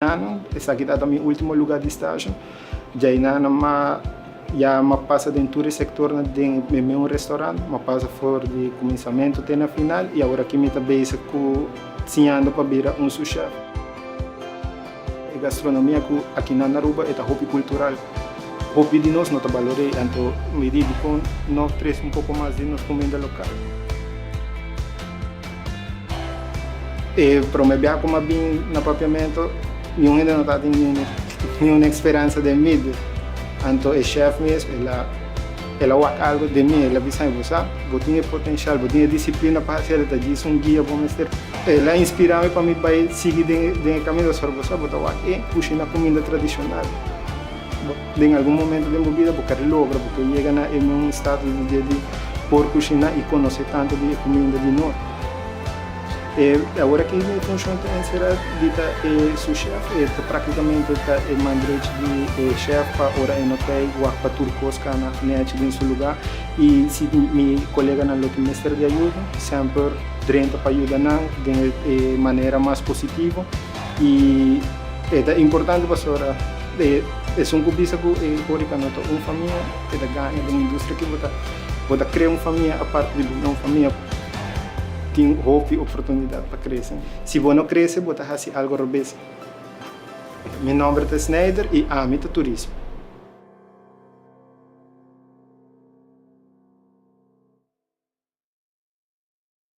Ano, esaki tata mi ultimo luga di stasho. Djai na na ma ya ma pasa den tur e sektornan den e meun restaurant. Ma pasa for di kuminsamentu te na final i aworaki mi ta bezig ku siñando pa bira un sous chef. E gastronomia ku akinan na Aruba e ta hopi kultural. Hopi di nos no ta balor'é i anto mi di dikon no trese un poko mas di nos kuminda lokal. E prome bia ku m'a bin na Papiamentu, niun hende no tabata tin niun speransa den mi. Anto e shèf mes el a el a wak algu den mi, el a bisa'i, Bo sa, bo tin e potenshal, bo tin e disiplina pa hasiel, e ta djis un guia bo mester. El a inspirami pa mi bai sigui den e kaminda, pasobra bo sa, bo ta wak e kushina kuminda tradishonal. Den algun momento den bo bida bo ka logra bo por yega na e un status di dje di por kushiná i konosé tantu di e kuminda di no. E awor aki mi funshon ta enserá di ta e su shèf, e ta praktikamente ta e man drechi di e shèf pa ora e no kei wak pa tur kos kana nèchi den su lugá i si mi koleganan lo tin mester di ayuda sèmper drenta pa yuda nan den e manera mas positivo. i e ta importante pasobra esun ku bisa ku e Orica no ta un famia e ta gana den industria aki bo ta krea un famia aparte di bo na un famia ku tin hopi oportunidat pa krese si bo no krese bo ta hasi algu robes mi nomber ta Snijder i ami ta turismo.